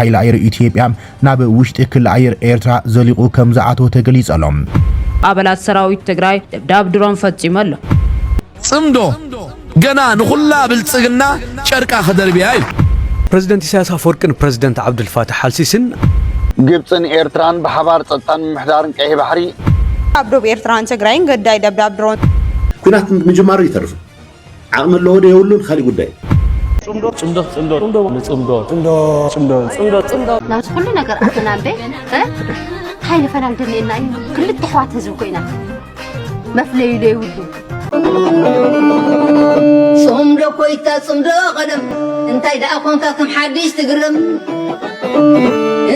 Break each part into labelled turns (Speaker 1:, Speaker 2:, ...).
Speaker 1: ሓይሊ ኣየር ኢትዮጵያ ናብ ውሽጢ ክሊ ኣየር ኤርትራ ዘሊቑ ከምዝኣተወ ተገሊጹ ኣሎ። ኣባላት
Speaker 2: ሰራዊት ትግራይ ደብዳብ ድሮን ፈጺሙ ኣሎ። ጽምዶ
Speaker 3: ገና ንኹላ ብልጽግና ጨርቃ ክደርብያ እዩ። ፕረዚደንት ኢሳያስ
Speaker 4: ኣፈወርቅን ፕረዚደንት ዓብዱልፋታሕ ኣልሲሲን። ግብጽን
Speaker 5: ኤርትራን ብሓባር ጸጥታን ምምሕዳርን ቀይሕ ባሕሪ። ኣብ ዶብ
Speaker 6: ኤርትራን ትግራይን ግዳይ ደብዳብ ድሮን። ኲናት
Speaker 7: ምጅማሩ ኣይተርፍን። ዓቕሚ ኣለዎ ዶ የብሉን ኻሊእ ጉዳይ እዩ። ጽምዶ ጽምዶ ጽምዶ ጽምዶ ንጽምዶ ጽምዶ
Speaker 8: ጽምዶ ጽምዶ ጽምዶ ናብዚ ኩሉ ነገር ኣተና እምበ ሃይለ ፈላም ደልየና እዩ ክልተ ኣሕዋት ህዝቢ ኮይና መፍለዩ ዘይብሉ ጽምዶ
Speaker 9: ኮይታ ጽምዶ ቀደም እንታይ ደኣ ኮንካ ከም ሓድሽ ትግርም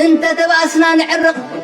Speaker 9: እንተ ተባእስና ንዕርቕ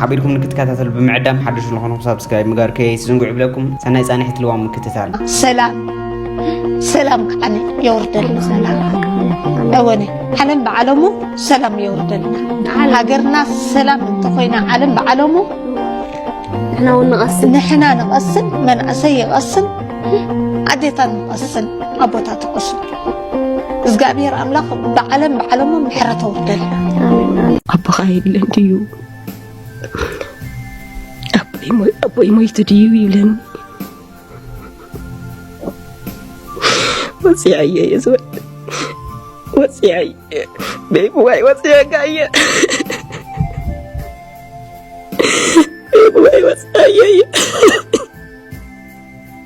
Speaker 10: ሓቢርኩም ንክትከታተሉ ብምዕዳም ሓድሽ ንኾንኩም ሳብስክራይብ ምግባር ከይትዝንግዑ ይብለኩም ሰናይ ፃንሒት ልዋም ምክትታል ሰላም
Speaker 11: ሰላም ከዓኒ የውርደልና ሰላም እወነ ዓለም ብዓለሙ ሰላም የውርደልና ሃገርና ሰላም እንተኾይና ዓለም ብዓለሙ ንሕና እውን ንቐስን ንሕና ንቐስን መንእሰይ ይቐስን ኣዴታት ንቐስን ኣቦታት ይቐስን እዝጋኣብሄር ኣምላኽ ብዓለም ብዓለሙ ምሕረት ኣውርደልና። ኣቦኻ
Speaker 12: የለን ድዩ ኣቦይ ሞይቱ ድዩ ይብለኒ ወፂዐየ እየ ዝበል ወፂዐየ ቤብዋይ ወፂዐካ እየ ቤብዋይ ወፂዐየ እየ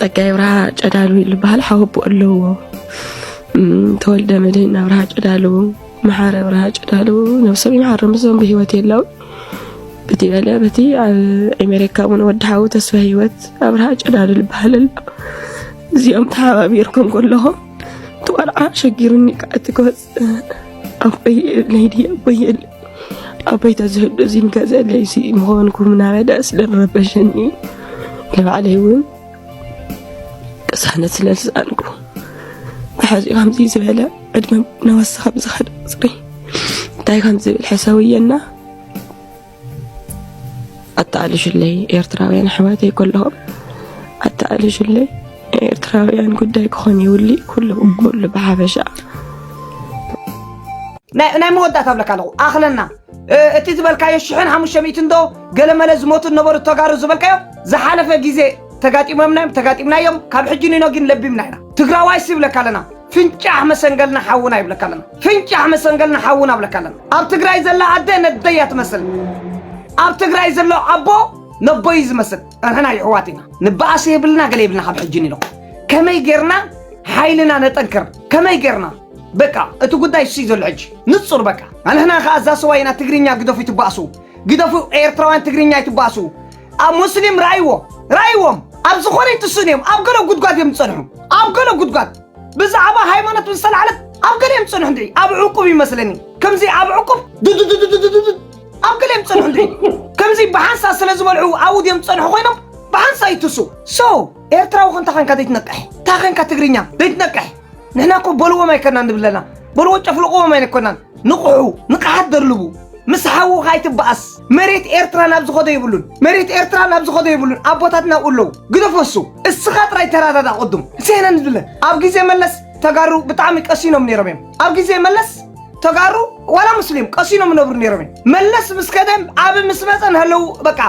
Speaker 12: ጸጋይ ብርሃ ጨዳሉ ዝበሃል ሓወቦ ኣለዎ ተወልደ መድህን ኣብርሃ ጨዳሉ መሓረ ኣብርሃ ጨዳሉ ነብሶም ይመሓር ምስዞም ብሂወት የለው በቲ በለ በቲ ኣብ ኣሜሪካ እውን ወዲ ሓዊ ተስፋ ሂወት ኣብርሃ ጨዳሉ ዝበሃል ኣሎ እዚኦም ተሓባቢርኩም ከለኹም እቲ ቆልዓ ሸጊሩኒ ከዓቲ ክወፅ ኣቦይ ለይዲ ኣቦይ ኣቦይ ተዝህሉ እዚ ንገዘ ለይሲ ምኾንኩም እናበለ ስለረበሸኒ ንባዕለይ እውን ቅሳነት ስለዝሰኣንኩ ብሓዚ ከምዚ ዝበለ ዕድመ ነወስኻ ብዝኸደ ፅሪ እንታይ ከም ዝብል ሕሰውየና ኣተኣልሹለይ ኤርትራውያን ኣሕዋተይ ከለኹም ኣተኣልሹለይ ናይ ኤርትራውያን ጉዳይ ክኾን ይውሊ ኩሉ ኩሉ ብሓፈሻ
Speaker 13: ናይ መወዳእታ ብለካ ኣለኹ ኣኽለና እቲ ዝበልካዮ ሽሕን ሓሙሽተ ሚእትን ዶ ገለመለ ዝሞቱ ነበሩ ተጋሩ ዝበልካዮ ዝሓለፈ ግዜ ተጋጢሞምና እዮም ተጋጢምናዮም ካብ ሕጂ ንኖ ግን ለቢምና ኢና ትግራዋይ ሲ ይብለካ ኣለና ፍንጫሕ መሰንገልና ሓውና ይብለካ ኣለና ፍንጫሕ መሰንገል ንሓዉ ናብለካ ኣለና ኣብ ትግራይ ዘላ ኣደ ነደይ እያ ትመስል ኣብ ትግራይ ዘሎ ኣቦ ነቦይ እዩ ዝመስል ንሕና ይሕዋት ኢና ንበኣስ የብልና ገለ የብልና ካብ ሕጂ ንኢሎ ከመይ ጌርና ሓይልና ነጠንክር ከመይ ጌርና በቃ እቲ ጉዳይ እሱይ ዘሎ ሕጂ ንጹር በቃ ኣንሕና ከዓ እዛ ሰዋይ ኢና ትግርኛ ግደፉ ይትበኣሱ ግደፉ ኤርትራውያን ትግርኛ ይትበኣሱ ኣብ ሙስሊም ራእይዎ ራእይዎም ኣብ ዝኾነ ይትስእኑ እዮም ኣብ ገለ ጉድጓድ እዮም ዝጸንሑ ኣብ ገለ ጉድጓድ ብዛዕባ ሃይማኖት ምስ ተላዕለት ኣብ ገሊኦም ዝጸንሑ እንድዒ ኣብ ዕቁብ ይመስለኒ ከምዚ ኣብ ዕቁብ ድድድድድድድድ ኣብ ገሊኦም ዝጸንሑ እንድዒ ከምዚ ብሓንሳ ስለ ዝበልዑ ኣብኡ ድዮም ዝጸንሑ ኮይኖም ብሓንሳ ይትሱ ሶ ኤርትራዊ ከንታ ኮንካ ዘይትነቅሕ እንታ ኮንካ ትግርኛ ዘይትነቅሕ ንሕና እኮ በልዎም ኣይኮናን ንብለና በልዎ ጨፍልቕዎም ኣይኮናን ንቕሑ ንቕሓት ደርልቡ ምስ ሓውኻ ኣይትበኣስ መሬት ኤርትራ ናብ ዝኸዶ የብሉን መሬት ኤርትራ ናብ ዝኸዶ የብሉን ኣቦታትና ኣብኡ ኣለዉ ግደፈሱ እስኻ ጥራይ ተረዳዳ ቅዱም ሴነን ዝለ ኣብ ግዜ መለስ ተጋሩ ብጣዕሚ ቀሲኖም ነይሮም እዮም ኣብ ግዜ መለስ ተጋሩ ዋላ ሙስሊም ቀሲኖም ነብሩ ነይሮም እዮም መለስ ምስ ከደም ዓብ ምስ መፀ ንሃለዉ በቃ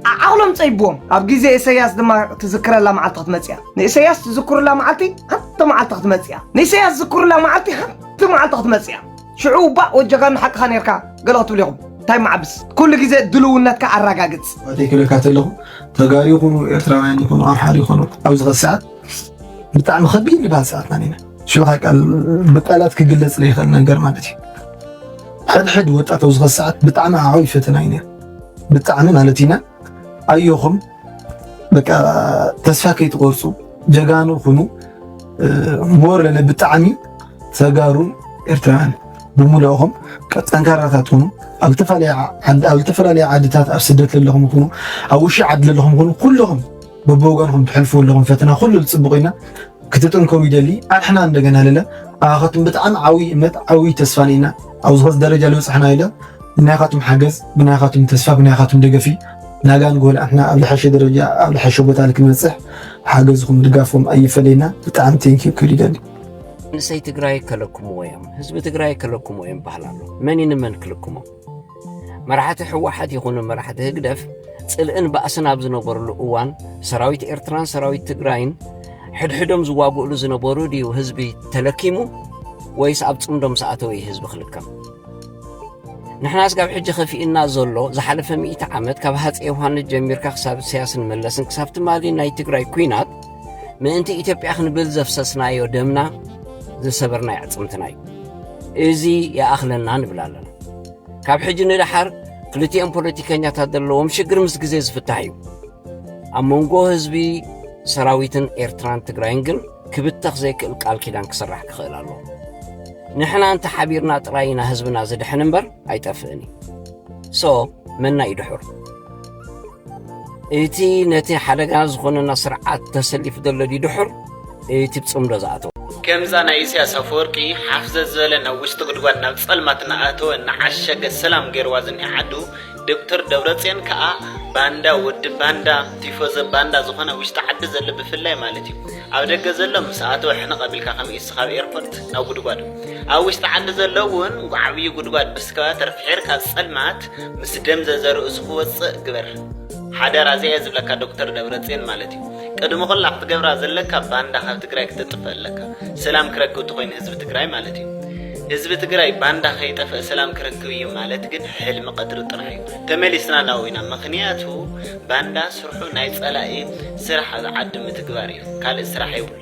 Speaker 13: ዓ- ዓቕሎም ፀይብዎም ኣብ ግዜ ኢሰያስ ድማ ትዝክረላ መዓልቲ ክትመፅእ እያ ንኢሰያስ ትዝክሩላ መዓልቲ ሓንቲ መዓልቲ ክትመፅእ እያ ንኢሰያስ ዝክሩላ መዓልቲ ሓንቲ እቲ መዓልቲ ክትመጽእ እያ ሽዑ እባ ወጀኻ ንሓቅኻ ነርካ ገለ ክትብሉ ኢኹም እንታይ መዓብስ ኩሉ ግዜ ድልውነትካ ኣረጋግጽ ዋተይ ክብለካ ተለኹ
Speaker 14: ተጋሩ ይኹኑ ኤርትራውያን ይኹኑ ኣምሓር ይኹኑ ኣብዚ ኸዚ ሰዓት ብጣዕሚ ከቢድ ዝበሃል ሰዓትና ኒና ሽዑ ቃል ብቃላት ክግለጽ ዘይኽእል ነገር ማለት እዩ ሕድሕድ ወጣት ኣብዚ ኸዚ ሰዓት ብጣዕሚ ዓብይ ፈተና እዩ ነይሩ ብጣዕሚ ማለት ኢና ኣዮኹም በቃ ተስፋ ከይትቆርፁ ጀጋኑ ኩኑ ሞር ብጣዕሚ ተጋሩ ኤርትራውያን ብምልእኹም ጠንካራታት ኩኑ ኣብ ዝተፈላለዩ ዓድታት ኣብ ስደት ዘለኹም ኩኑ ኣብ ውሽጢ ዓዲ ዘለኹም ኩኑ ኩለኹም በብወገንኹም ትሕልፉ ኣለኹም ፈተና ኩሉ ዝፅብቑ ኢና ክትጥንከሩ ይደሊ ኣሕና እንደገና ለለ ኣኻትኩም ብጣዕሚ ዓብይ እምነት ዓብይ ተስፋ ኒኢና ኣብዚ ኸዚ ደረጃ ልብፃሕና የለ ብናይኻትኩም ሓገዝ ብናይኻትኩም ተስፋ ብናይኻትኩም ደገፊ ናጋ ንጎል ኣሕና ኣብ ልሐሸ ደረጃ ኣብ ልሐሸ ቦታ ልክንበፅሕ ሓገዝኹም ድጋፍኹም ኣይፈለየና ብጣዕሚ ቴንኪዩ ክብል ይደሊ መንእሰይ
Speaker 15: ትግራይ ከለክምዎ እዮም ህዝቢ ትግራይ ከለክምዎ እዮም በሃል ኣሎ መን እዩ ንመን ክልክሞ መራሕቲ ሕወሓት ይኹኑ መራሕቲ ህግደፍ ጽልእን ባእስን ኣብ ዝነበሩሉ እዋን ሰራዊት ኤርትራን ሰራዊት ትግራይን ሕድሕዶም ዝዋግእሉ ዝነበሩ ድዩ ህዝቢ ተለኪሙ ወይስ ኣብ ጽምዶም ሰኣተው እዩ ህዝቢ ክልከም ንሕና ስጋብ ሕጂ ከፊእና ዘሎ ዝሓለፈ ሚእቲ ዓመት ካብ ሃፀ ዮሃንስ ጀሚርካ ክሳብ እሰያስን መለስን ክሳብ ትማሊ ናይ ትግራይ ኩናት ምእንቲ ኢትዮጵያ ክንብል ዘፍሰስናዮ ደምና ዝሰበርናዮ ኣዕፅምትና እዩ እዚ ይኣኽለና ንብል ኣለና ካብ ሕጂ ንደሓር ክልቲኦም ፖለቲከኛታት ዘለዎም ሽግር ምስ ግዜ ዝፍታሕ እዩ ኣብ መንጎ ህዝቢ ሰራዊትን ኤርትራን ትግራይን ግን ክብተኽ ዘይክእል ቃል ኪዳን ክስራሕ ክኽእል ኣሎ ንሕና እንተ ሓቢርና ጥራይ ኢና ህዝብና ዝድሕን እምበር ኣይጠፍእን እዩ ሶ መና እዩ ድሑር እቲ ነቲ ሓደጋ ዝኾነና ስርዓት ተሰሊፉ ዘሎ ድዩ ድሑር እቲ ብፅምዶ ዝኣተወ ከምዛ ናይ
Speaker 10: ኢሳያስ ኣፈወርቂ ሓፍዘዝ ዝበለ ናብ ውሽጢ ጉድጓድ ናብ ጸልማት እናኣተወ እናዓሸገ ሰላም ገይርዋ ዝኒሀ ዓዱ ዶክተር ደብረጽዮን ከኣ ባንዳ ወዲ ባንዳ ቲፎዘ ባንዳ ዝኾነ ውሽጢ ዓዲ ዘሎ ብፍላይ ማለት እዩ ኣብ ደገ ዘሎ ምስ ኣተወ ሕንቕ ኣቢልካ ከም ኢሱ ካብ ኤርፖርት ናብ ጉድጓድ ኣብ ውሽጢ ዓዲ ዘሎ እውን ዓብዪ ጉድጓድ ብስከባ ተርፊሒርካ ጸልማት ምስ ደም ዘዘርእሱ ክወጽእ ግበር ሓደራ እዚየ ዝብለካ ዶክተር ደብረጽዮን ማለት እዩ ቅድሚ ኩላ ክትገብራ ዘለካ ባንዳ ካብ ትግራይ ክተጥፍእ ኣለካ ሰላም ክረክብ ትኮይኑ ህዝቢ ትግራይ ማለት እዩ ህዝቢ ትግራይ ባንዳ ከይጠፍእ ሰላም ክረክብ እዩ ማለት ግን ሕልሚ ቀትሪ ጥራሕ እዩ ተመሊስና ናብኡ ኢና ምክንያቱ ባንዳ ስርሑ ናይ ጸላኢ ስራሕ ኣብ ዓዲ ምትግባር እዩ ካልእ ስራሕ የብሉ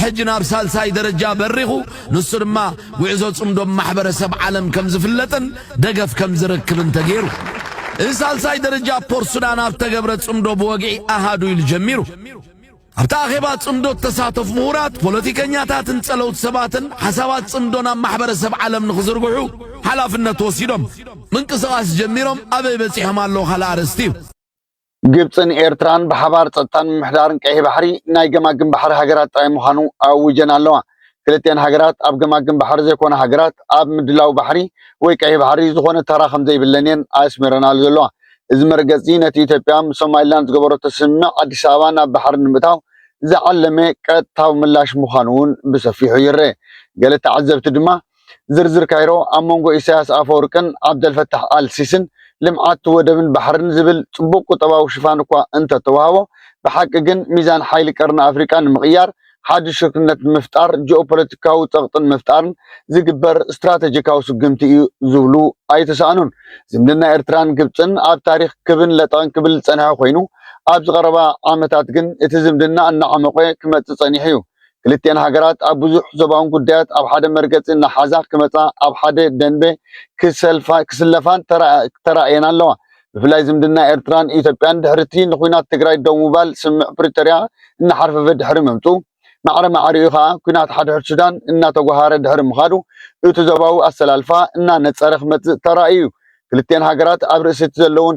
Speaker 3: ሕጂ ናብ ሳልሳይ ደረጃ በሪኹ፣ ንሱ ድማ ጉዕዞ ጽምዶ ብ ማሕበረሰብ ዓለም ከም ዝፍለጥን ደገፍ ከም ዝረክብን ተገይሩ። እዚ ሳልሳይ ደረጃ ፖርት ሱዳን ኣብ ተገብረ ጽምዶ ብወግዒ ኣሃዱ ኢሉ ጀሚሩ። ኣብቲ ኣኼባ ጽምዶ እተሳተፉ ምሁራት፣ ፖለቲከኛታትን ጸለውቲ ሰባትን ሓሳባት ጽምዶ ናብ ማሕበረሰብ ዓለም ንኽዝርግሑ ሓላፍነት ወሲዶም ምንቅስቓስ ጀሚሮም ኣበይ በጺሖም ኣለዉ ካልእ ኣርእስቲ እዩ።
Speaker 5: ግብፅን ኤርትራን ብሓባር ፀጥታን ምምሕዳርን ቀይሕ ባሕሪ ናይ ገማግም ባሕሪ ሃገራት ጥራይ ምዃኑ ኣዊጀን ኣለዋ። ክልቲኣን ሃገራት ኣብ ገማግም ባሕሪ ዘይኮና ሃገራት ኣብ ምድላው ባሕሪ ወይ ቀይሕ ባሕሪ ዝኾነ ተራ ከምዘይብለን እየን ኣስሚረናሉ ዘለዋ። እዚ መርገፂ'ዚ ነቲ ኢትዮጵያ ምስ ሶማሊላንድ ዝገበረቶ ስምምዕ ኣዲስ ኣበባ ናብ ባሕሪ ንምእታው ዝዓለመ ቀጥታዊ ምላሽ ምዃኑ እውን ብሰፊሑ ይረኤ። ገለ ተዓዘብቲ ድማ፣ ዝርዝር ካይሮ ኣብ መንጎ ኢሳያስ ኣፈወርቅን ዓብደልፈታሕ ኣል ሲስን ልምዓት ወደብን ባሕርን ዝብል ጽቡቕ ቁጠባዊ ሽፋን እኳ እንተ ተዋህቦ፣ ብሓቂ ግን ሚዛን ሓይሊ ቀርኒ ኣፍሪቃ ንምቕያር፣ ሓድሽ ሽርክነት ንምፍጣር፣ ጂኦፖለቲካዊ ጸቕጢ ንምፍጣርን ዝግበር ስትራተጂካዊ ስጉምቲ እዩ ዝብሉ ኣይተሳእኑን። ዝምድና ኤርትራን ግብጽን ኣብ ታሪኽ ክብን ለጠቕን ክብል ዝጸንሐ ኮይኑ፣ ኣብዚ ቀረባ ዓመታት ግን እቲ ዝምድና እናዓሞቐ ክመጽእ ጸኒሑ'ዩ። ክልቲኤን ሃገራት ኣብ ብዙሕ ዞባውን ጉዳያት ኣብ ሓደ መርገጺ እናሓዛ ክመጻ ኣብ ሓደ ደንበ ክስለፋን ተራእየን ኣለዋ። ብፍላይ ዝምድና ኤርትራን ኢትዮጵያን ድሕሪቲ ንኩናት ትግራይ ደው ምባል ስምምዕ ፕሪቶርያ እናሓርፈፈ ድሕሪ ምምጽኡ፣ ማዕረ ማዕሪኡ ከኣ ኩናት ሓድሕድ ሱዳን እናተጓሃረ ድሕሪ ምኻዱ እቲ ዞባዊ ኣሰላልፋ እናነጸረ ክመጽእ ተራእዩ እዩ። ክልቲኤን ሃገራት ኣብ ርእሲቲ ዘለወን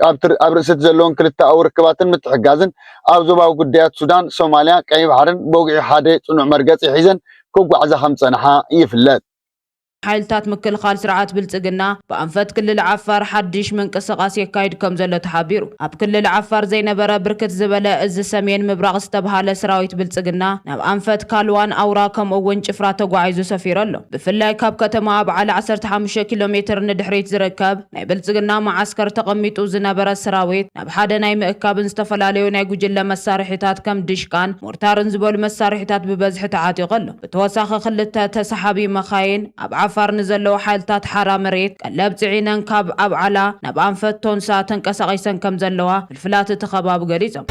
Speaker 5: ኣብ ርእሲ እቲ ዘለወን ክልተኣዊ ርክባትን ምትሕግጋዝን፣ ኣብ ዞባዊ ጉዳያት ሱዳን፣ ሶማልያ፣ ቀይሕ ባሕርን ብወግዒ ሓደ ጽኑዕ መርገጺ ሒዘን ክጓዕዛ ከም ዝጸንሓ ይፍለጥ። ሓይልታት
Speaker 2: ምክልኻል ስርዓት ብልፅግና ብኣንፈት ክልል ዓፋር ሓዱሽ ምንቅስቓስ የካይድ ከምዘሎ ተሓቢሩ። ኣብ ክልል ዓፋር ዘይነበረ ብርክት ዝበለ እዚ ሰሜን ምብራቕ ዝተብሃለ ስራዊት ብልፅግና ናብ ኣንፈት ካልዋን ኣውራ ከምኡ እውን ጭፍራ ተጓዒዙ ሰፊሩ ኣሎ። ብፍላይ ካብ ከተማ ኣብዓላ ዓሰርተ ሓሙሽተ ኪሎ ሜትር ንድሕሪት ዝርከብ ናይ ብልጽግና መዓስከር ተቐሚጡ ዝነበረ ሰራዊት ናብ ሓደ ናይ ምእካብን ዝተፈላለዩ ናይ ጉጅለ መሳርሒታት ከም ድሽቃን ሞርታርን ዝበሉ መሳርሒታት ብበዝሒ ተዓጢቑ ኣሎ። ብተወሳኺ ክልተ ተሰሓቢ መኻይን ኣብ ዓፋር ንዘለዉ ሓይልታት ሓራ መሬት ቀለብ ጽዒነን ካብ ኣብዓላ ናብ ኣንፈት ቶንሳ ተንቀሳቒሰን ከምዘለዋ ክፍላት እቲ ከባቢ ገሊፆም።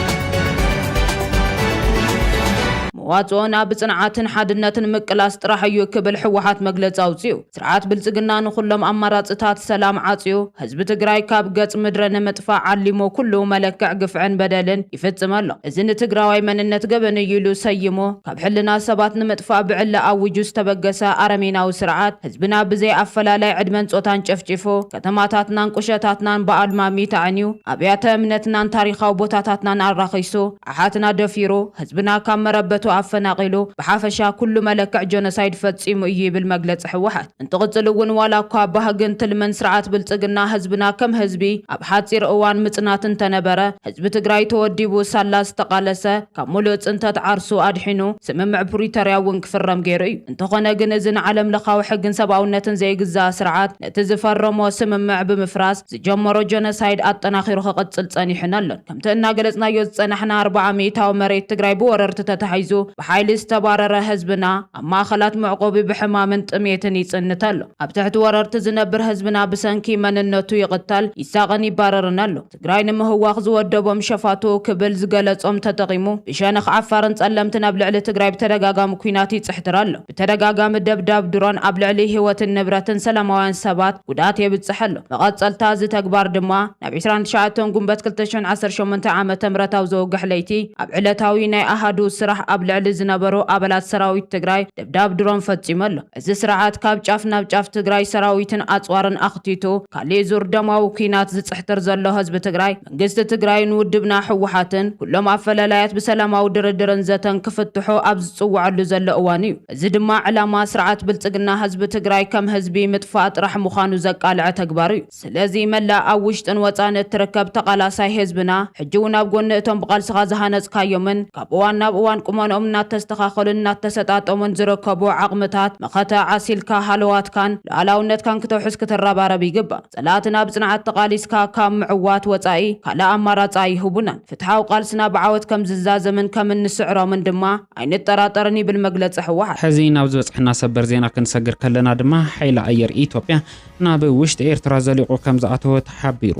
Speaker 2: መዋፅኦና ብፅንዓትን ሓድነትን ምቅላስ ጥራሕ እዩ ክብል ህወሓት መግለፂ ኣውፂኡ። ስርዓት ብልፅግና ንኹሎም ኣማራፅታት ሰላም ዓፅዩ ህዝቢ ትግራይ ካብ ገፅ ምድሪ ንምጥፋእ ዓሊሙ ኩሉ መለክዕ ግፍዕን በደልን ይፍፅም ኣሎ። እዚ ንትግራዋይ መንነት ገበን እዩ ኢሉ ሰይሙ ካብ ሕልና ሰባት ንምጥፋእ ብዕሊ ኣዊጁ ዝተበገሰ ኣረሜናዊ ስርዓት ህዝብና ብዘይ ኣፈላላይ ዕድመን ፆታን ጨፍጪፉ ከተማታትናን ቁሸታትናን ብኣልማሚት ኣዕንዩ፣ ኣብያተ እምነትናን ታሪኻዊ ቦታታትናን ኣራኺሱ፣ ኣሓትና ደፊሩ፣ ህዝብና ካብ መረበቱ ኣፈናቒሉ፣ ብሓፈሻ ኩሉ መለክዕ ጆኖሳይድ ፈጺሙ እዩ ይብል መግለጺ ህወሓት። እንትቕጽል እውን ዋላ እኳ ባህግን ትልምን ስርዓት ብልጽግና ህዝብና ከም ህዝቢ ኣብ ሓጺር እዋን ምጽናት እንተነበረ፣ ህዝቢ ትግራይ ተወዲቡ ሳላ ዝተቓለሰ ካብ ሙሉእ ጽንተት ዓርሱ ኣድሒኑ ስምምዕ ፕሪቶርያ እውን ክፍረም ገይሩ እዩ። እንተኾነ ግን እዚ ንዓለምለኻዊ ሕግን ሰብኣውነትን ዘይግዛእ ስርዓት፣ እቲ ዝፈረሞ ስምምዕ ብምፍራስ ዝጀመሮ ጀኖሳይድ ኣጠናኺሩ ክቕፅል ፀኒሑን ኣሎን። ከምቲ እናገለፅናዮ ዝፀናሕና ኣርባዓ ሚኢታዊ መሬት ትግራይ ብወረርቲ ተታሒዙ ብሓይሊ ዝተባረረ ህዝብና ኣብ ማእኸላት መዕቖቢ ብሕማምን ጥምየትን ይፅንት ኣሎ። ኣብ ትሕቲ ወረርቲ ዝነብር ህዝብና ብሰንኪ መንነቱ ይቕተል፣ ይሳቐን ይባረርን ኣሎ። ትግራይ ንምህዋኽ ዝወደቦም ሸፋቱ ክብል ዝገለፆም ተጠቒሙ ብሸነኽ ዓፋርን ፀለምትን ኣብ ልዕሊ ትግራይ ብተደጋጋሚ ኲናት ይፅሕትር ኣሎ። ብተደጋጋሚ ደብዳብ ድሮን ኣብ ልዕሊ ህይወትን ንብረትን ሰላማውያን ሰባት ጉድኣት የብፅሕ ኣሎ። መቐፀልታ እዚ ተግባር ድማ ናብ ዕስራን ትሽዓተን ጉንበት ክልተ ሽሕን ዓሰርተ ሸሞንተን ዓመተ ምህረታዊ ዘውግሕ ለይቲ ኣብ ዕለታዊ ናይ ኣሃዱ ስራሕ ኣብ ልዕሊ ዝነበሩ ኣባላት ሰራዊት ትግራይ ደብዳብ ድሮን ፈፂሙ ኣሎ። እዚ ስርዓት ካብ ጫፍ ናብ ጫፍ ትግራይ ሰራዊትን ኣፅዋርን ኣኽቲቱ ካሊእ ዙር ደማዊ ኩናት ዝፅሕትር ዘሎ ህዝቢ ትግራይ መንግስቲ ትግራይን ውድብና ህወሓትን ኩሎም ኣፈለላያት ብሰላማዊ ድርድርን ዘተን ክፍትሑ ኣብ ዝፅወዐሉ ዘሎ እዋን እዩ። እዚ ድማ ዕላማ ስርዓት ብልፅግና ህዝቢ ትግራይ ከም ህዝቢ ምጥፋእ ጥራሕ ምዃኑ ዘቃለዐ ተግባር እዩ። ስለዚ መላእ ኣብ ውሽጥን ወጻእን እትርከብ ተቓላሳይ ህዝብና፣ ሕጂ ውን ኣብ ጎኒ እቶም ብቓልስኻ ዝሃነጽካዮምን ካብ እዋን ናብ እዋን ቁመንኦም እናተስተኻኸሉን እናተሰጣጠሙን ዝርከቡ ዓቕምታት መኸተ ዓሲልካ ሃለዋትካን ሉኣላውነትካን ክተውሕስ ክትረባረብ ይግባእ። ጸላእትና ብጽንዓት ተቓሊስካ ካብ ምዕዋት ወጻኢ ካልእ ኣማራጺ ኣይህቡናን። ፍትሓዊ ቃልስና ብዓወት ከም ዝዛዘምን ከም እንስዕሮምን ድማ ኣይንጠራጠርን ይብል መግለጺ ህወሓት። ሕዚ ናብ ዝበጽሐና
Speaker 16: ሰበር ዜና ክንሰግር ከለና ድማ፣ ሓይሊ ኣየር ኢትዮጵያ ናብ ውሽጢ ኤርትራ ዘሊቑ ከምዝኣተወ ተሓቢሩ።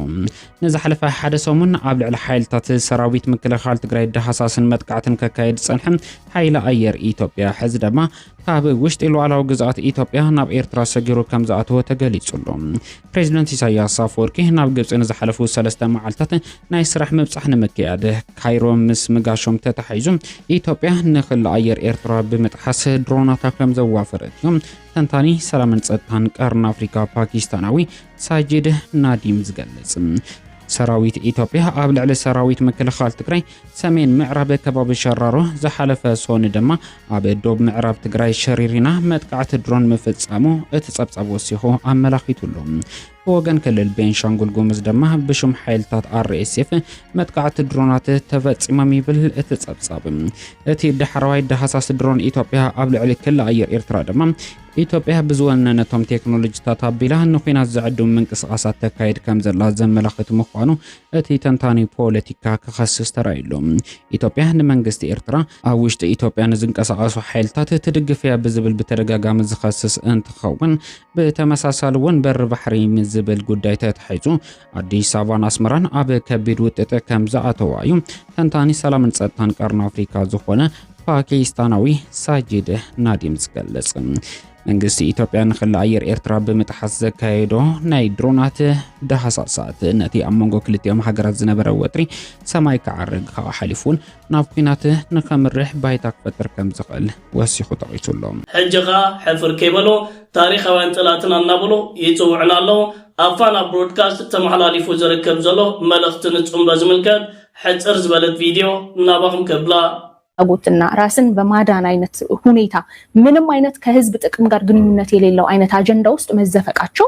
Speaker 16: ንዝሓለፈ ሓደ ሰሙን ኣብ ልዕሊ ሓይልታት ሰራዊት ምክልኻል ትግራይ ዳህሳስን መጥቃዕትን ከካይድ ዝጸንሐ ሓይሊ ኣየር ኢትዮጵያ፣ ሕዚ ደማ ካብ ውሽጢ ሉዓላዊ ግዝኣት ኢትዮጵያ ናብ ኤርትራ ሰጊሩ ከምዝኣተወ ተገሊጹ ኣሎ። ፕሬዚደንት ኢሳያስ ኣፈወርቂ ናብ ግብጺ ንዝሓለፉ ሰለስተ መዓልታት ናይ ስራሕ ምብጻሕ ንምክያድ ካይሮ ምስ ምጋሾም ተተሓሒዙ ኢትዮጵያ ንክሊ ኣየር ኤርትራ ብምጥሓስ ድሮናታ ከምዘዋፈረት'ዩ ተንታኒ ሰላምን ጸጥታን ቀርኒ ኣፍሪካ ፓኪስታናዊ ሳጂድ ናዲም ዝገልጽ ሰራዊት ኢትዮጵያ ኣብ ልዕሊ ሰራዊት ምክልኻል ትግራይ ሰሜን ምዕራብ ከባቢ ሸራሮ ዝሓለፈ ሶኒ ድማ ኣብ ዶብ ምዕራብ ትግራይ ሸሪሪና መጥቃዕቲ ድሮን ምፍጻሙ እቲ ጸብጻብ ወሲኹ ኣመላኺቱ ኣሎ። ብወገን ክልል ቤንሻንጉል ጉምዝ ድማ ብሽም ሓይልታት ኣርኤስኤፍ መጥቃዕቲ ድሮናት ተፈጺሞም ይብል እቲ ጸብጻብ። እቲ ዳሕረዋይ ዳህሳስ ድሮን ኢትዮጵያ ኣብ ልዕሊ ክሊ ኣየር ኤርትራ ድማ ኢትዮጵያ ብዝወነነቶም ቴክኖሎጂታት ኣቢላ ንኩናት ዘዕድሙ ምንቅስቓሳት ተካይድ ከም ዘላ ዘመላኽት ምዃኑ እቲ ተንታኒ ፖለቲካ ክኸስስ ተራይሉ። ኢትዮጵያ ንመንግስቲ ኤርትራ ኣብ ውሽጢ ኢትዮጵያ ንዝንቀሳቐሱ ሓይልታት ትድግፍ እያ ብዝብል ብተደጋጋሚ ዝኸስስ እንትኸውን ብተመሳሳሊ እውን በሪ ባሕሪ ምስ ዝብል ጉዳይ ተታሒዙ ኣዲስ ኣበባን ኣስመራን ኣብ ከቢድ ውጥጥ ከም ዝኣተዋ እዩ ተንታኒ ሰላምን ጸጥታን ቀርኒ ኣፍሪካ ዝኾነ ፓኪስታናዊ ሳጂድ ናዲም ዝገልጽ። መንግስቲ ኢትዮጵያ ንክሊ ኣየር ኤርትራ ብምጥሓስ ዘካየዶ ናይ ድሮናት ዳህሳሳት ነቲ ኣብ መንጎ ክልቲኦም ሃገራት ዝነበረ ወጥሪ ሰማይ ክዓርግ ካብኡ ሓሊፉ እውን ናብ ኲናት ንከምርሕ ባይታ ክፈጥር ከም ዝኽእል ወሲኹ ጠቒሱ ኣሎ። ሕጂ ከኣ ሕፍር
Speaker 17: ከይበሉ ታሪኻውያን ጠላትና እናበሉ ይጽውዑና ኣለዉ። ኣብ ፋና ብሮድካስት ተመሓላሊፉ ዝርከብ ዘሎ መልእኽቲ ንጽምዶ ዝምልከት ሕጽር ዝበለት ቪድዮ ናባኹም ከብላ። ጉትና
Speaker 18: ራስን በማዳን ኣይነት ሁኔታ ምንም ኣይነት ከህዝብ ጥቅም ጋር ግንኙነት የሌለው ኣይነት ኣጀንዳ ውስጥ መዘፈቃቸው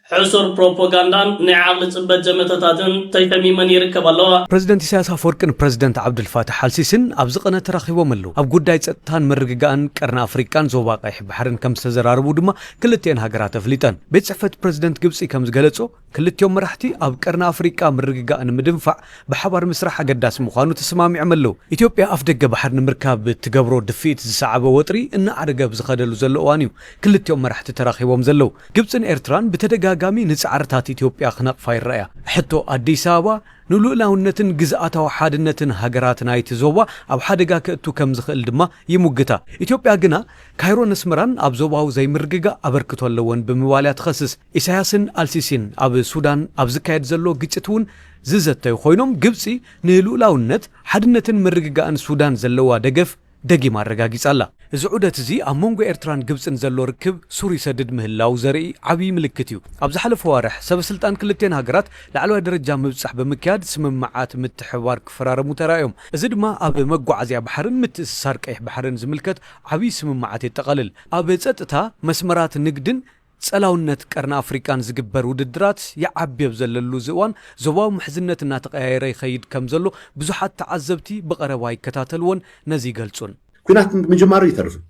Speaker 17: ሕሱር ፕሮፖጋንዳን ናይ ዓቕሊ ጽበት ዘመተታትን ተሸሚመን ይርከባ ኣለዋ። ፕረዚደንት ኢሳያስ ኣፈወርቂ
Speaker 4: ን ፕረዚደንት ዓብዱልፋታሕ ኣልሲሲን ኣብዚ ቅነ ተራኺቦም ኣለው። ኣብ ጉዳይ ጸጥታን ምርግጋእን ቀርኒ ኣፍሪቃን ዞባ ቀይሕ ባሕርን ከምዝተዘራረቡ ድማ ክልቲኤን ሃገራት ኣፍሊጠን። ቤት ጽሕፈት ፕረዚደንት ግብጺ ከምዝገለጾ፣ ክልቲኦም መራሕቲ ኣብ ቀርኒ ኣፍሪቃ ምርግጋእ ንምድንፋዕ ብሓባር ምስራሕ ኣገዳሲ ምዃኑ ተሰማሚዖም ኣለው። ኢትዮጵያ ኣፍደገ ባሕሪ ንምርካብ እትገብሮ ድፍኢት ዝሰዓበ ወጥሪ እናኣዕረገ ኣብ ዝኸደሉ ዘሎ እዋን'ዩ ክልቲኦም መራሕቲ ተራኺቦም ዘለው። ግብጽን ኤርትራን ብተደጋጋሚ ንጻዕርታት ኢትዮጵያ ክነቕፋ ይረኣያ። ሕቶ ኣዲስ ኣበባ ንልኡላውነትን ግዝኣታዊ ሓድነትን ሃገራት ናይቲ ዞባ ኣብ ሓደጋ ከእቱ ከም ዝኽእል ድማ ይሙግታ። ኢትዮጵያ ግና ካይሮን ኣስመራን ኣብ ዞባዊ ዘይምርግጋእ ኣበርክቶ ኣለወን ብምባል እያ ትኸስስ። ኢሳያስን ኣልሲሲን ኣብ ሱዳን ኣብ ዝካየድ ዘሎ ግጭት'ውን ዝዘተዩ ኮይኖም፣ ግብጺ ንልኡላውነት፣ ሓድነትን ምርግጋእን ሱዳን ዘለዋ ደገፍ፣ ደጊማ ኣረጋጊጻ ኣላ። እዚ ዑደት'ዚ ኣብ መንጎ ኤርትራን ግብጽን ዘሎ ርክብ ሱር ይሰድድ ምህላዉ ዘርኢ ዓብዪ ምልክት እዩ። ኣብ ዝሓለፉ ኣዋርሕ፣ ሰበስልጣን ክልቲኤን ሃገራት ላዕለዋይ ደረጃ ምብጻሕ ብምክያድ ስምምዓት ምትሕብባር ክፈራረሙ ተራእዮም። እዚ ድማ ኣብ መጓዓዝያ ባሕርን ምትእስሳር ቀይሕ ባሕርን ዝምልከት ዓብዪ ስምምዓት የጠቓልል። ኣብ ጸጥታ፣ መስመራት ንግድን ጸላውነት ቀርኒ ኣፍሪቃን ዝግበር ውድድራት ይዓቢ ኣብ ዘለሉ እዚ እዋን፣ ዞባዊ ምሕዝነት እናተቐያየረ ይኸይድ ከም ዘሎ ብዙሓት ተዓዘብቲ ብቐረባ ይከታተልዎን ነዚ ይገልጹን። ኲናት ምጅማሩ
Speaker 7: ኣይተርፍን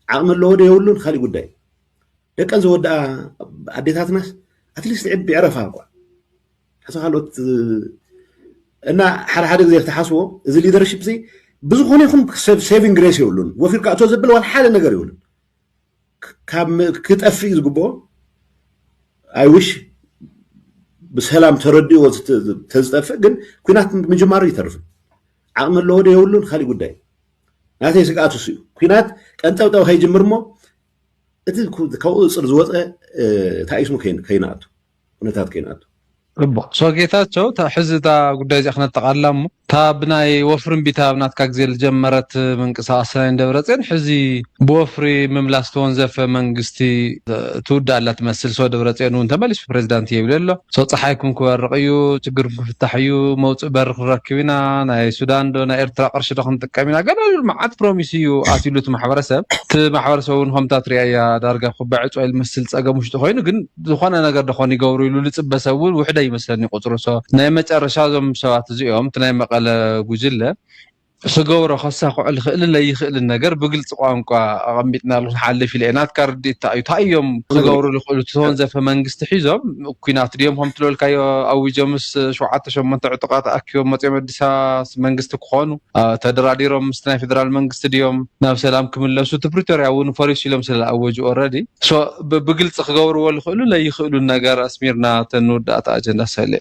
Speaker 7: ዓቕሚ ኣለዎ ዶ የብሉን ኻሊእ ጉዳይ እዩ። ደቀን ዘወድኣ ኣዴታትናስ ኣትሊስት ዕድመ ዕረፋ እኳ ሕቶ ካልኦት እና ሓደ ሓደ ግዜ ተሓስቦ እዚ ሊደርሽፕ እዚ ብዝኾነ ይኹን ሴቪንግ ግሬስ የብሉን ወፊርካ እቶ ዘብል ዋላ ሓደ ነገር የብሉን ካብ ክጠፍእ እዩ ዝግብኦ ኣይውሽ ብሰላም ተረድእዎ ተዝጠፍእ ግን ኩናት ምጅማሩ ይተርፍን ዓቕሚ ኣለዎ ዶ የብሉን ካሊእ ጉዳይ ናተይ ስግኣት እሱ እዩ ኩናት ቀንጠብጠብ ከይጅምር እሞ እቲ ካብኡ እፅር ዝወፀ ታኢስሙ ከይንኣቱ ኩነታት ኮይኑ ኣቱ። ጽቡቅ so
Speaker 1: ጌታቸው እታ ሕዚ እታ ጉዳይ እዚኣ ክነጠቃልላ እሞ እታ ብናይ ወፍሪ እምቢታ ኣብ ናትካ ግዜ ዝጀመረት ምንቅስቃስ ናይ ንደብረጼን ሕዚ ብወፍሪ ምምላስ ዝተወንዘፈ መንግስቲ ትውዳእ ኣላ ትመስል so ደብረጼን እውን ተመሊሱ ፕሬዚዳንት እየ ይብል ኣሎ so ጸሓይኩም ክበርቅ እዩ ችግርኩም ክፍታሕ እዩ መውጽኢ በሪ ክንረክብ ኢና ናይ ሱዳን ዶ ናይ ኤርትራ ቅርሺ ዶ ክንጥቀም ኢና ገለ ዝብል መዓት ፕሮሚስ እዩ ኣትዩሉ እቲ ማሕበረሰብ እቲ ማሕበረሰብ እውን ከምታ ትሪኣያ ዳርጋ ኩባዒ ጾይል መስል ጸገም ውሽጢ ኮይኑ ግን ዝኾነ ነገር ዶ ኾን ይገብሩ ኢሉ ልጽበ ሰብ ውን ውሕደ ይመስለኒ ቁጽሩ so ናይ መጨረሻ እዞም ሰባት እዚኦም እቲ ናይ መቐለ ጉጅለ ክገብሮ ከሳኽዖ ልኽእልን ለይኽእልን ነገር ብግልጺ ቋንቋ ኣቐሚጥናሉ ክንሓልፍ ኢለ እየ ናትካ ርድኢት ታይ እዩ ታይ እዮም ክገብሩ ልኽእሉ እቲ ተወንዘፈ መንግስቲ ሒዞም ኩናት ድዮም ከምቲ ልበልካዮ ኣዊጆምስ ሸውዓተ ሸሞንተ ዕጡቓት ኣኪቦም መጺኦም ኣዲስ ኣበባ መንግስቲ ክኾኑ ተደራዲሮም ምስቲ ናይ ፌደራል መንግስቲ ድዮም ናብ ሰላም ክምለሱ እቲ ፕሪቶርያ እውን ፈሪሱ ኢሎም ስለ ዝኣወጁ ኦረዲ so ብግልፂ ክገብርዎ ዝኽእሉ ለይኽእሉን ነገር ኣስሚርና እቲ ንውዳእታ ኣጀንዳ ሰሌ።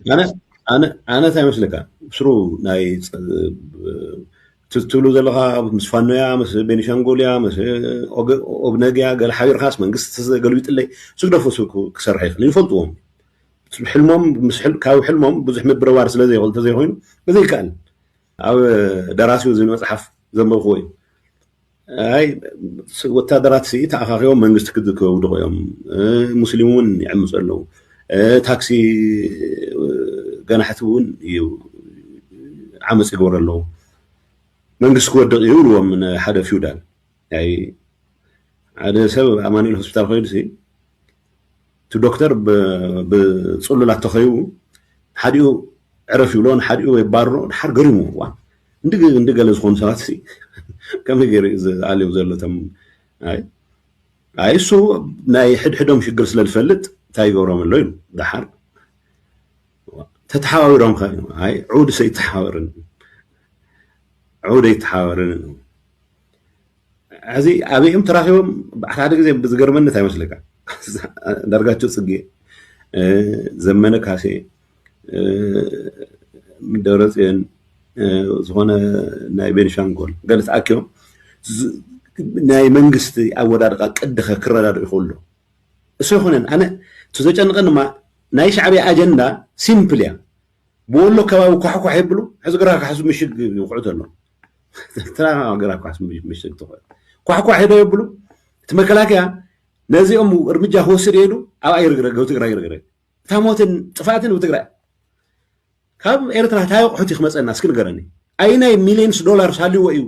Speaker 1: ኣነ
Speaker 7: ታይ መስለካ ብስሩ ናይ እቲ ትብሉ ዘለኻ ምስ ፋኖ እያ ምስ ቤኒሻንጉል እያ ምስ ኦብነግ እያ ገለ ሓቢርካስ መንግስቲ ተገልቢጥለይ ስግደፎ ስብ ክሰርሐ ይኽእል ይፈልጥዎም ሕልሞም ካብ ሕልሞም ብዙሕ ምብርባር ስለዘይኽእል ተዘይኮይኑ እዚ ይከኣል ኣብ ደራሲኡ ዝብል መጽሓፍ ዘንበብክዎ እዩ ኣይ ወታደራት ሲ ተኣኻኺቦም መንግስቲ ክድከውድቑ እዮም ሙስሊም እውን ይዕምፁ ኣለዉ ታክሲ ገናሕቲ እውን እዩ ዓመፅ ይገብሩ ኣለዉ መንግስቲ ክወድቕ እዩ ይብልዎም ሓደ ፊውዳል ሓደ ሰብ ኣማኒኤል ሆስፒታል ኮይኑ ሲ እቲ ዶክተር ብጽሉል ኣተኸዩ ሓዲኡ ዕረፍ ይብሎ ንሓዲኡ የባርሮ ድሓር ገሪሙ እዋን እንዲ እንዲ ገለ ዝኾኑ ሰባት ሲ ከመይ ገይሩ እዩ ዝኣልዮም ዘሎ እቶም ኣይ ኣይ እሱ ናይ ሕድሕዶም ሽግር ስለ ዝፈልጥ እንታይ ይገብሮም ኣሎ ኢሉ ድሓር ተተሓባቢሮም ከ ኣይ ዑድ ሰይተሓባበርን ዑድ ኣይተሓባበርን ሐዚ ኣበይ እዮም ተራኪቦም በዓል ሓደ ግዜ ዝገርመኒ እንታይ ይመስለካ ኣንዳርጋቸው ፅጌ ዘመነ ካሴ ደብረፅዮን ዝኾነ ናይ ቤንሻንጎል ገለ ተኣኪቦም ናይ መንግስቲ ኣወዳድቃ ቅዲ ክረዳድኡ ይኽእሉ እሱ ይኹነን ኣነ እቲ ዘጨንቀን ድማ ናይ ሻዕብያ ኣጀንዳ ሲምፕል እያ ብወሎ ከባቢ ኳሕኳሕ ይብሉ ሕዚ ግራ ካሕሱ ምሽግ ይውቅዑ ተሎ ትራና ገራ ኳስ ምሽግ ትኾን ኳሕኳሕ ዶ የብሉ እቲ መከላከያ ነዚኦም እርምጃ ክወስድ የሉ ኣብ ኣይርግረግ ኣብ ትግራይ ይርግረግ እታ ሞትን ጥፋትን ኣብ ትግራይ ካብ ኤርትራ እንታይ ኣቑሑት እዩ ክመፀና እስኪ ንገረኒ ኣይናይ ሚሊየንስ ዶላር ሳልዎ እዩ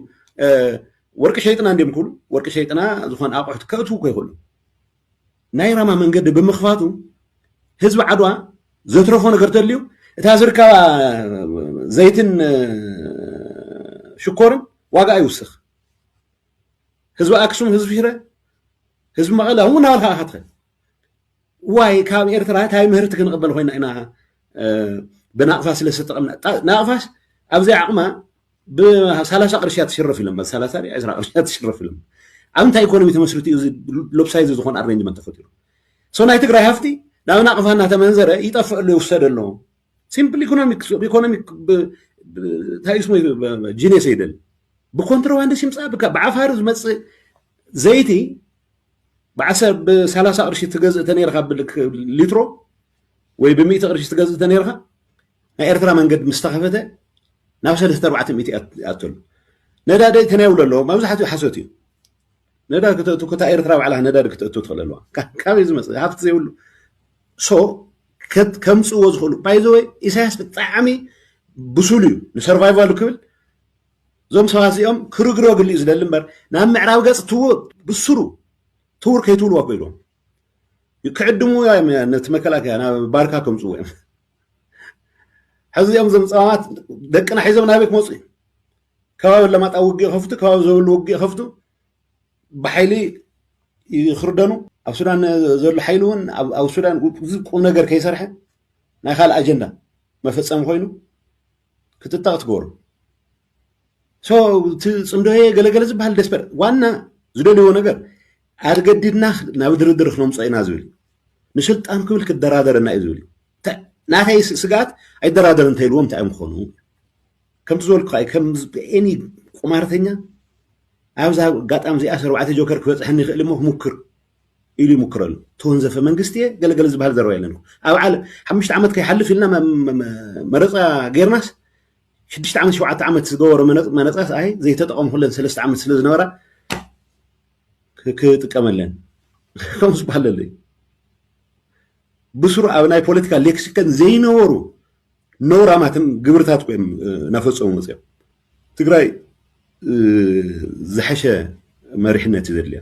Speaker 7: ወርቂ ሸይጥና እንዲም ክብሉ ወርቂ ሸይጥና ዝኾነ ኣቑሑት ከእትዉ እኮ ይኽእሉ ናይ ራማ መንገዲ ብምኽፋቱ ህዝቢ ዓድዋ ዘትረፎ ነገር ተልዩ እታ ዝርካባ ዘይትን ሽኮርን ዋጋ ይውስኽ ህዝቢ ኣክሱም ህዝቢ ሽረ ህዝቢ መቐለ እውን እናበልካ ኢኻ ትኸል ዋይ ካብ ኤርትራ እንታይ ምህርቲ ክንቕበል ኮይና ኢና ብናቕፋ ስለ ዝተጠቐምና ናቕፋስ ኣብዘይ ዓቕማ ብሳላሳ ቅርሺ እያ ትሽረፍ ኢሎም በል ሳላሳ ድያ ዕስራ ቅርሺ እያ ትሽረፍ ኢሎም ኣብ እንታይ ኢኮኖሚ ተመስሪቱ እዩ እዚ ሎፕሳይዝ ዝኾነ ኣሬንጅመንት ተፈጢሩ ሶ ናይ ትግራይ ሃፍቲ ናብ ናቕፋ እናተመንዘረ ይጠፍእ ኣሎ ይውሰድ ኣሎ ሲምፕል ኢኮኖሚክ ኢኮኖሚክ እንታይ ስሙ ጂኔስ ይደል ብኮንትሮባንድ ሲምፃ ብዓፋሪ ዝመፅእ ዘይቲ ብሰላሳ ቅርሺ ትገዝእ ተነይርካ ሊትሮ ወይ ብሚእቲ ቅርሺ ትገዝእ ተነይርካ ናይ ኤርትራ መንገድ ምስ ተኸፈተ ናብ ሰለስተ ኣርባዕተ ሚእቲ ይኣተሉ ነዳዲ ተናይብሎ ኣለዎ መብዛሕትኡ ሓሶት እዩ ነዳዲ ክተእቱ ክታ ኤርትራ ባዕላ ነዳዲ ክተእቱ ትኽእል ኣለዋ ካበይ ዝመፅ ሃፍቲ ዘይብሉ ሶ ከምፅዎ ዝኽእሉ ባይዘወይ ኢሳያስ ብጣዕሚ ብሱሉ እዩ ንሰርቫይቫሉ ክብል እዞም ሰባት እዚኦም ክርግረግሉ እዩ ዝደሊ እምበር ናብ ምዕራብ ገፅ ትውር ብስሩ ትውር ከይትብልዎ ኮይልዎም ክዕድሙ እዮም ነቲ መከላከያ ናብ ባርካ ከምፅዎ እዮም ሕዚ እዚኦም ዞም ፀማማት ደቅና ሒዞም ናበይ ክመፁ እዩ ከባቢ ለማጣ ውግእ ይኸፍቱ ከባቢ ዘብሉ ውግእ ይኸፍቱ ብሓይሊ ይኽርደኑ ኣብ ሱዳን ዘሎ ሓይሊ እውን ኣብ ሱዳን ቁም ነገር ከይሰርሐ ናይ ካልእ ኣጀንዳ መፈፀሚ ኮይኑ ክትጠቕ ትገብሩ ሶ እቲ ፅምዶ ገለገለ ዝበሃል ደስፐር ዋና ዝደልይዎ ነገር ኣገዲድና ናብ ድርድር ክነምጾ ኢና ዝብል ንስልጣን ክብል ክደራደረና እዩ ዝብል ናተይ ስግኣት ኣይደራደር እንተይልዎም እንታይ እዮም ክኾኑ ከምቲ ዝበልኩ ከም ኤኒ ቁማርተኛ ኣብዛ ኣጋጣሚ እዚኣ ሰርባዕተ ጆከር ክበፅሐኒ ይኽእል እሞ ክሙክር ኢሉ ይሙክር ኣሎ ተወንዘፈ መንግስቲ እየ ገለገለ ዝበሃል ዘረባ የለን ኣብ ዓለ ሓሙሽተ ዓመት ከይሓልፍ ኢልና መረፃ ጌርናስ ሽዱሽተ ዓመት ሸውዓተ ዓመት ዝገበሮ መነፃስ ኣይ ዘይተጠቐምኩለን ሰለስተ ዓመት ስለ ዝነበራ ክጥቀመለን ከምስ ባለለይ ብስሩ ኣብ ናይ ፖለቲካ ሌክሲከን ዘይነበሩ ነውራማትን ግብርታት ኮይም እናፈፀሙ መፅኦም ትግራይ ዝሐሸ መሪሕነት እዩ ዘድልያ